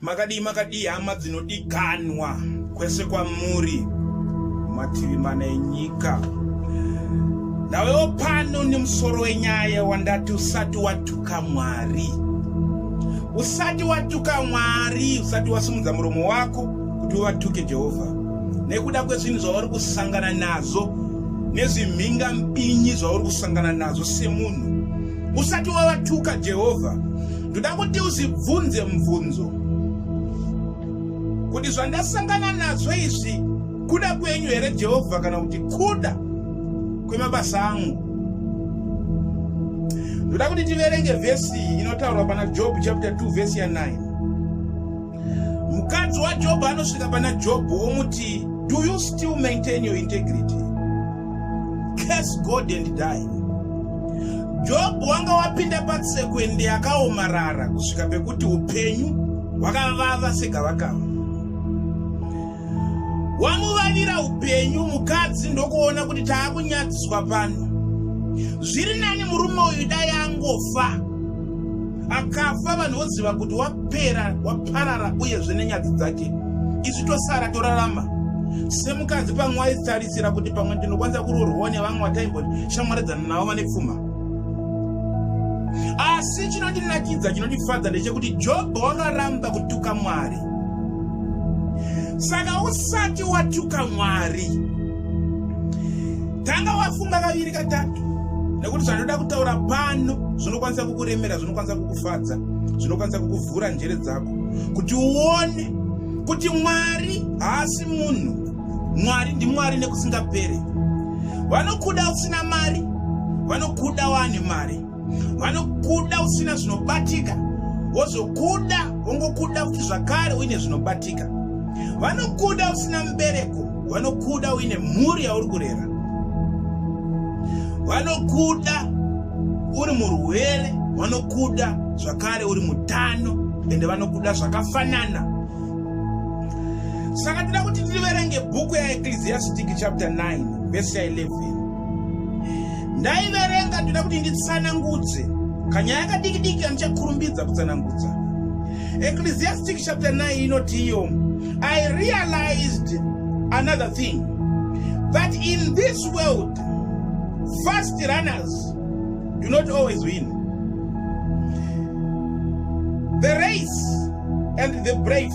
makadii makadii hama dzinodikanwa kwese kwamuri mativi mana enyika ndawewo pano nemusoro wenyaya wandati usati watuka mwari usati watuka mwari usati wasimudza muromo wako kuti uvatuke jehovha nekuda kwezvinhu zvauri kusangana nazvo nezvimhinga mbinyi zvauri kusangana nazvo semunhu usati wavatuka jehovha ndoda kuti uzvibvunze mubvunzo kuti zvandasangana nazvo izvi kuda kwenyu here jehovha kana kuti kuda kwemabasa angu ndoda kuti tiverenge vhesi inotaurwa pana job chapter 2 vhesi ya 9 Mukadzi waJobho anosvika pana Jobho womuti, Do you still maintain your integrity? Curse God and die. Jobho wanga wapinda patsekwende yakaomarara kusvika pekuti upenyu hwakavava segavakava. Wamuvavira upenyu mukadzi ndokuona kuti taakunyadziswa pano. Zviri nani murume uyu dai angofa. akafa vanhu voziva kuti wapera waparara uyezve nenyadzi dzake isu tosara torarama semukadzi pamwe waitarisira kuti pamwe ndinokwanisa kuroorwawo nevamwe wataimboti shamwaridzana navo vane pfuma asi chinondinakidza chinondifadza ndechekuti jobho wakaramba kutuka mwari saka usati watuka mwari tanga wafunga kaviri katatu nekuti zvanoda kutaura pano zvinokwanisa kukuremera zvinokwanisa kukufadza zvinokwanisa kukuvhura njere dzako kuti uone kuti mwari haasi munhu mwari ndimwari nekusingapere vanokuda usina mari vanokuda waane mari vanokuda usina zvinobatika wozokuda wongokuda kuti zvakare uine zvinobatika vanokuda usina mubereko vanokuda uine mhuri yauri kurera vanokuda uri murwere vanokuda zvakare uri mutano ende vanokuda zvakafanana saka tida kuti tiriverenge bhuku yaecclesiastic chapter 9 vese 11 ndaiverenga ndoda kuti nditsanangudze kanyaya kadiki diki andichakurumbidza kutsanangudza ecclesiastic chapter 9 inoti iyo i realized another thing that in this world fast runners do not always win the race and the brave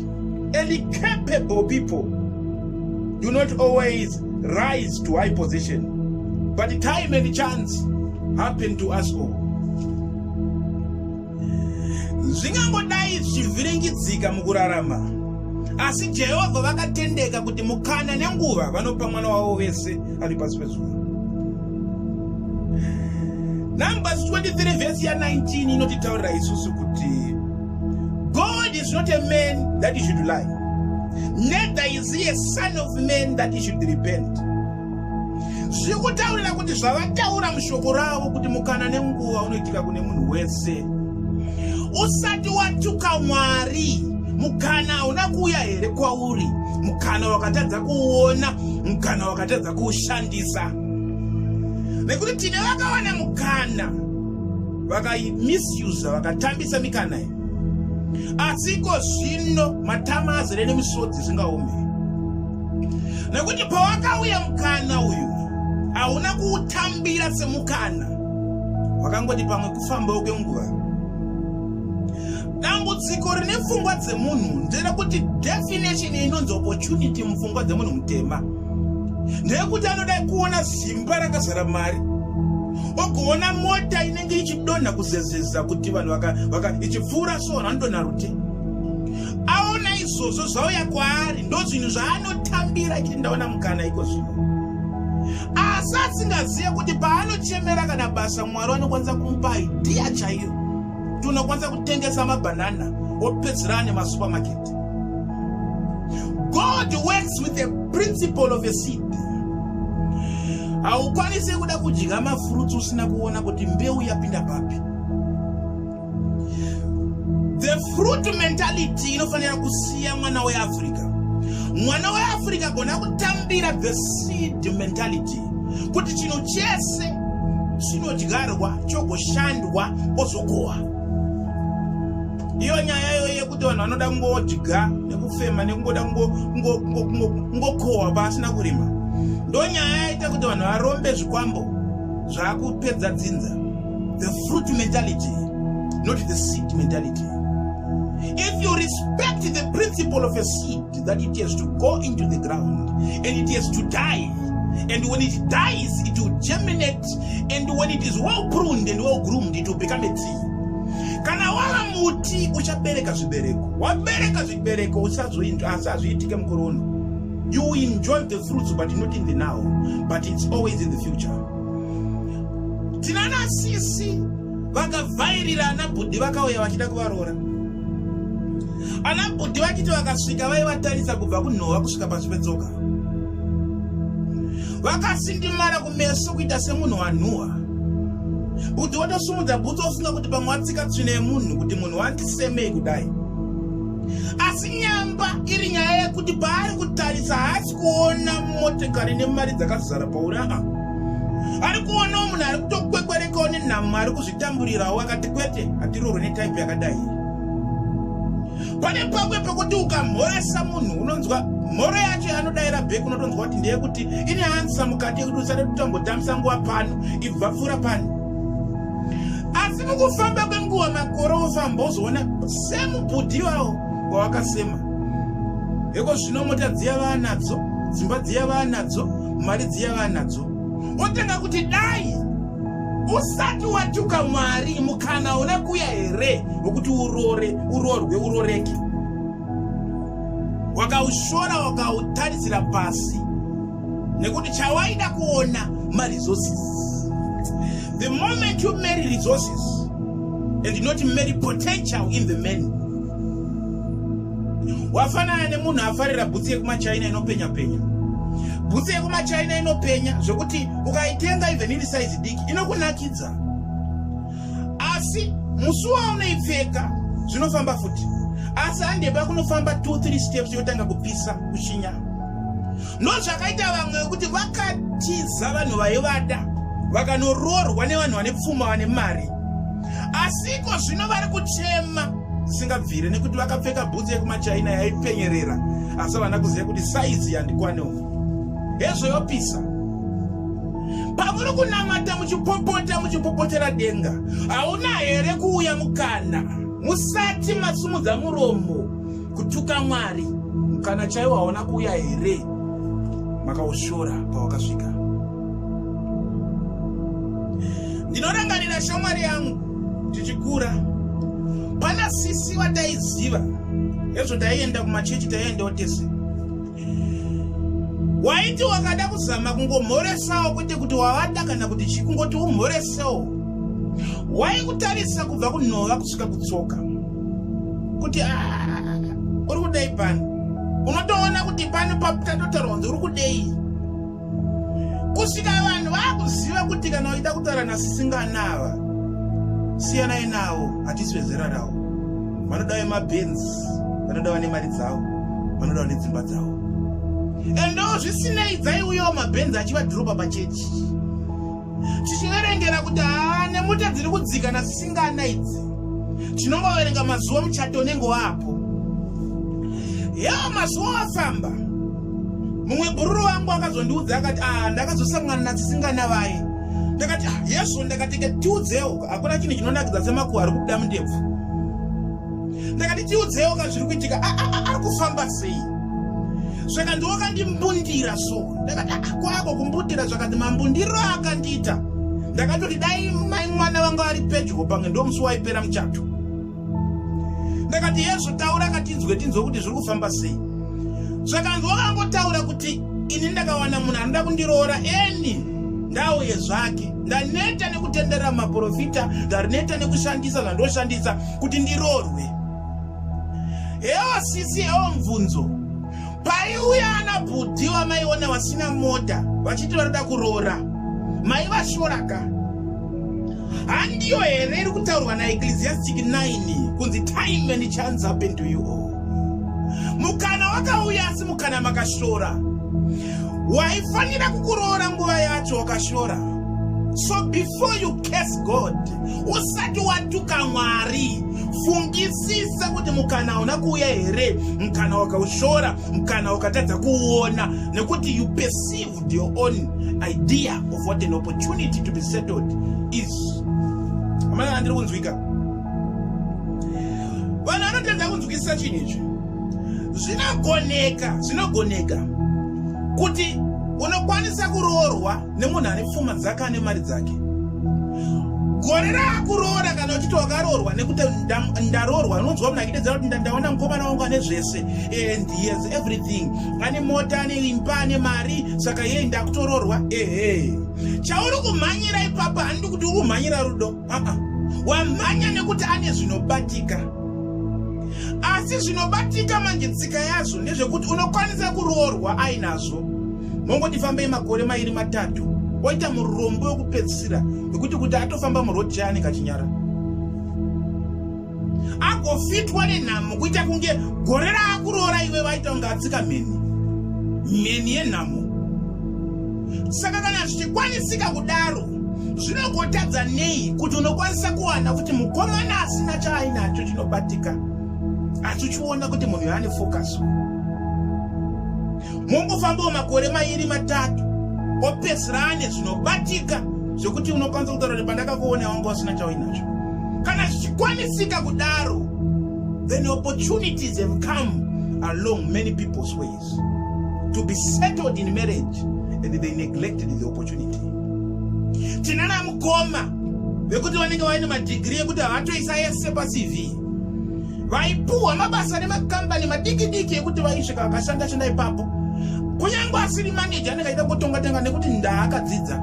And the capable people do not always rise to high position, but the time and chance happen to us all. zvingangodai zvivhiringidzika mukurarama asi jehovha vakatendeka kuti mukana nenguva vanopa mwana wavo vese ari pasi pezuva numbers 23 vhesi ya19 inotitaurira isusu kuti God is not a man that he should lie. Neither is he a son of man that he should repent. zviri kutaurira kuti zvavataura mushoko ravo kuti mukana nenguva unoitika kune munhu wese usati watuka mwari mukana hauna kuuya here kwauri mukana wakatadza kuuona mukana wakatadza kuushandisa nekuti tine vakawana mukana vakaimisusa vakatambisa mikana iyi asi iko zvino matama azere nemisodzi zvingaome nekuti pawakauya mukana uyu hauna kuutambira semukana wakangoti pamwe kufambawo kwenguva dambudziko rine pfungwa dzemunhu nderekuti definition inonzi opportunity mupfungwa dzemunhu mutema ndeyekuti anoda kuona zimba rakazara mari ogoona mota inenge ichidonha kuzezeza kuti vanhu vaka ichipfuura so vanhu vanodonha rute aona izvozvo zvauya kwaari ndo zvinhu zvaanotambira chiti ndaona mukana iko zvino asi asingazive kuti paanochemera kana basa mwari vanokwanisa kumupa idhiya chaiyo kuti unokwanisa kutengesa mabhanana wopedzera ane masupermarket god works with the principle of a seed haukwanise kuda kudya mafruits usina kuona kuti mbeu yapinda papi the fruit mentality inofanira kusiya mwana weafrica mwana weafrica gona kutambira the seed mentality kuti chinhu chese chinodyarwa chogoshandwa ozokohwa iyo nyaya iyo yekuti vanhu vanoda kungodya nekufema nekungoda kungokohwa pasina kurima ndo nyaya yaita kuti vanhu varombe zvikwambo zvakupedza dzinza the fruit mentality not the seed mentality if you respect the principle of a seed that it has to go into the ground and it has to die and when it dies it will germinate and when it is well pruned and well groomed it will become a tree kana wava muti uchabereka zvibereko wabereka zvibereko usazoinzwa asi hazviitike mukore uno you enjoy the fruits but not in the now but it's always in the future tinana sisi vakavhairira ana bhudhi vakauya vachida kuvaroora ana bhudhi vachiti vakasvika vaivatarisa kubva kunhova kusvika pasi petsoka vakasindimara kumeso kuita semunhu wanhuhwa Bhudhi watosumudza bhutsu ofunga kuti pamwe watsika tsvina yemunhu kuti munhu wandisemei kudai. Asi nyamba iri nyaya yekuti paari kutarisa haasi kuona motekari nemari dzakazara pauri aa. Ari kuonawo munhu ari kutokwekwerekawo nenhamo ari kuzvitamburirawo akati kwete hatirorwe netaipi yakadai. pane pamwe pekuti ukamhoresa munhu unonzwa mhoro yacho yanodaira bhek unotonzwa kuti ndeye kuti ine ansa mukati yekuti usade kutambotambisa nguva pano ibva pfuura pano asi mukufamba kwenguva makore ofamba ozoona semubhudhi iwawo wawakasema heko zvino mota dziya vaanadzo dzimba dziya vaanadzo mari dziya vaanadzo wotanga kuti dai usati watuka mwari mukana una kuya here wekuti urore urorwe uroreke wakaushora wakautarisira pasi nekuti chawaida kuona maresources the moment you marry resources and not marry potential in the man wafanana nemunhu afarira bhutsi yekumachina inopenya penya bhutsi yekumachina inopenya zvekuti ukaitenga even iri saizi diki inokunakidza asi musi waunoipfeka zvinofamba futi asi handepa kunofamba 23 steps yotanga kupisa kuchinya ndozvakaita vamwe vekuti vakatiza vanhu vaivada vakanoroorwa nevanhu vane pfuma vane mari asi iko zvino vari kuchema zvisingabvire nekuti vakapfeka bhutsu yekumachaina yaipenyerera asi havana kuziva kuti saizi yandikwane umu hezvo yopisa pamuri kunamata muchipopota muchipopotera denga hauna here kuuya mukana musati masumudza muromo kutuka mwari mukana chaiwo haona kuuya here makaushora pawakasvika ndinorangarira shamwari yangu tichikura pana sisi vataiziva ezvo taienda kumachechi taiendawo tese waiti wakada kuzama kungomhoresawo kwete kuti wavada kana kuti chii kungoti umhoresewo waikutarisa kubva kunhova kusvika kutsoka kuti uri kudei pano unotoona kuti pano patatotaura kunzi uri kudei kusvika vanhu vakuziva kuti kana uchida kutaura nasisinganava siyanai navo hatisi vezera ravo vanoda vemabens vanoda vane mari dzavo vanoda vane dzimba dzavo endo zvisinei dzaiuyawo mabens achivadhiroba pachechi tichiverengera kuti haa nemota dziri kudzikana zvisingana idzi tinongoverenga mazuva muchato unenge waapo yeo mazuva wafamba mumwe bhururu wangu akazondiudza akati aa ndakazosangana nadzisingana vaye ndakati ah, yesu ndakatike tiudzewo hakuna chinhu chinonakidza semakuwa ari kubuda mundebvu ndakati tiudzewo ka zviri kuitika ah, ah, ari kufamba sei saka ndiwo akandimbundira so ndakati ah, kwako kumbundira zvakati mambundiro akandiita ndakatoti dai mai mwana vanga vari pedyo pange ndo musi waipera muchato ndakati yezvo taura akatinzwe tinzwe kuti zviri kufamba sei zvakanzwa kangotaura kuti ini ndakawana munhu anoda kundiroora eni ndauye zvake ndaneta nekutenderera maprofita ndaneta nekushandisa zvandoshandisa kuti ndiroorwe Hewa sisi hewa mvunzo paiuya ana bhudhi wamaiona wasina mota vachiti vanoda kuroora mai vashoraka handiyo here iri kutaurwa naecclesiastic 9 kunzi time and chance happen to you all mukana wakauya asi mukana makashora waifanira kukuroora nguva yacho wakashora so before you case god usati watuka mwari fungisisa kuti mukana hauna kuuya here mukana wakaushora mukana wakatadza kuona nekuti you perceived your own idea of what an opportunity to be settled is amana handiri kunzwika vanhu vanotadza kunzwisisa chinhu ichi zvinogoneka zvinogoneka kuti unokwanisa kuroorwa nemunhu ane pfuma dzake ane mari dzake gore raakuroora kana uchiti wakaroorwa nekuti ndaroorwa unonzwa munhu akidedzera kuti ndaona mukomana wangu ane zvese and he has everything ane mota ane imba ane mari saka yei ndakutoroorwa ehe chauri kumhanyira ipapa handidi kuti uri kumhanyira rudo aa wamhanya nekuti ane zvinobatika asi zvinobatika manje tsika yazvo ndezvekuti unokwanisa kuroorwa ainazvo mongoti fambei makore mairi matatu oita murombo wekupedzisira wekuti kuti atofamba muroad chai anenge achinyara agofitwa nenhamo kuita kunge gore raakuroora iwe vaita kunge atsika mheni mheni yenhamo saka kana zvichikwanisika kudaro zvinogotadza nei kuti unokwanisa kuwana kuti mukomana asina chaainacho chinobatika asi uchiona kuti munhu yaane fokaso mongofambawo makore mairi matatu opedzisira ane zvinobatika zvekuti unokwanisa kutaura kuti pandakakuona wanga usina chauinacho kana zvichikwanisika kudaro then opportunities have come along many people's ways to be settled in marriage and they neglected the opportunity tinana mukoma vekuti vanenge vaine madhigiri ekuti havatoisa yese pacv vaipuhwa mabasa nemakambani madiki diki ekuti vaisvika vakashanda shanda ipapo kunyange asiri maneja anenge aida kutonga tenga nekuti ndaakadzidza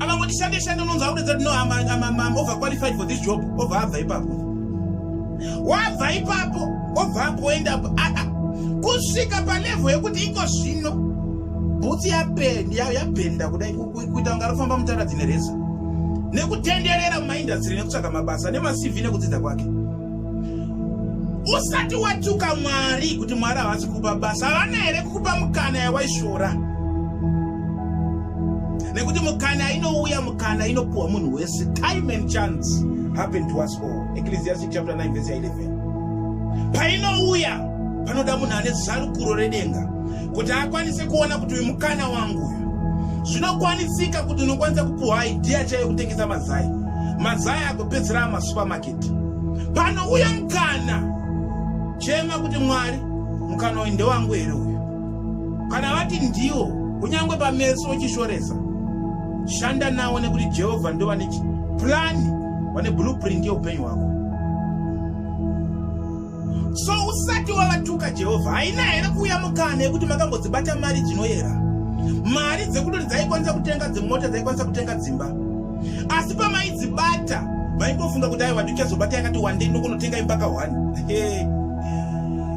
ava kuti shande shande unonzi akuredza kuti no am over qualified for this job obva abva ipapo wabva ipapo obva apoenda aa kusvika palevo yekuti iko zvino bhutsi yapenda kudai kuita kunge arikufamba mutaradzi nereza nekutenderera mumaindastiri nekutsvaga mabasa nemacv nekudzidza kwake usati watuka mwari kuti mwari havasi kukupa basa havana here kukupa mukana yawaishora nekuti mukana inouya mukana inopuhwa munhu wese time and chance happen to us all ecclesiastic chapter 9 verse 11 painouya panoda munhu ane zarukuro redenga kuti akwanise kuona kuti uyu mukana wangu uyu zvinokwanisika kuti unokwanisa kupuhwa idhiya chaiyo kutengesa mazai mazai agopedzera amasupermaketi pano uya mukana chema kuti mwari mukana uyu ndewangu here uyu kana vati ndiwo kunyange pameso uchishoresa shanda nawo nekuti jehovha ndo vane purani vane blueprint yeupenyu hwako So usati wavatuka Jehovha haina here kuuya mukana yekuti makambodzibata mari dzinoyera? Mari dzekudori dzaikwanisa kutenga dzimota dzaikwanisa kutenga dzimba. Asi pamaidzibata vaimbofunga kuti aiwa ndichazobata yakati wandei nokunotenga imba kahwani.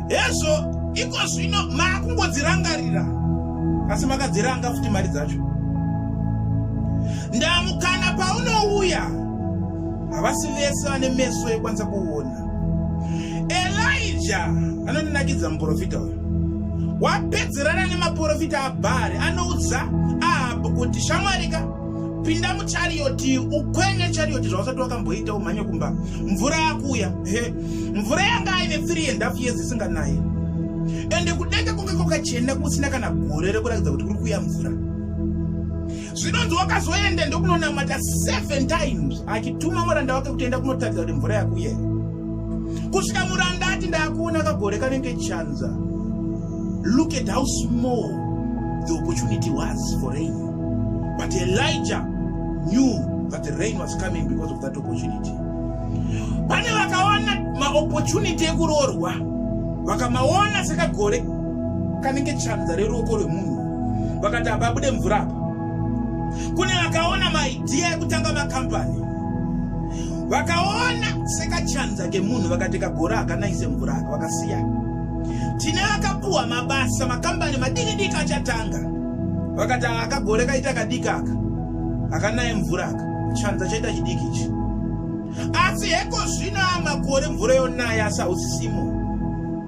Hezvo iko zvino makungodzirangarira asi makadziranga futi mari dzacho. Ndamukana paunouya havasi vese vane meso ekwanisa kuona. elija anondinakidza muprofita uyu wapedzerana nemaprofita abhari anoudza ahabhu kuti shamwarika pinda muchariyoti ukwenye chariyoti zvausati wakamboita umhanye kumba mvura yakuuya he mvura yanga aine three and half years isinganaye ende kudenga kunge kwakachena kusina kana gore rekurakidza kuti kuri kuuya mvura zvinonzi wakazoenda ndokunonamata seven times achituma muranda wake kutoenda kunotaridza kuti mvura yakuye kusvika muranda ati ndaakuona kagore kanenge chanza look at how small the opportunity was for rain but elijah knew that the rain was coming because of that opportunity pane vakaona maopportunity ekuroorwa vakamaona sekagore kanenge chanza reruoko rwemunhu vakati apa abude mvura apa kune vakaona maidhiya ekutanga makambani vakaona sekachanza kemunhu vakati kagora hakanaise mvura aka vakasiya tine vakapuwa mabasa makambani madiki diki achatanga vakati akagore kaita kadiki aka akanaye mvura aka chanza chaita chidiki ichi asi heko zvino amakore mvura yonaya asi hausisimo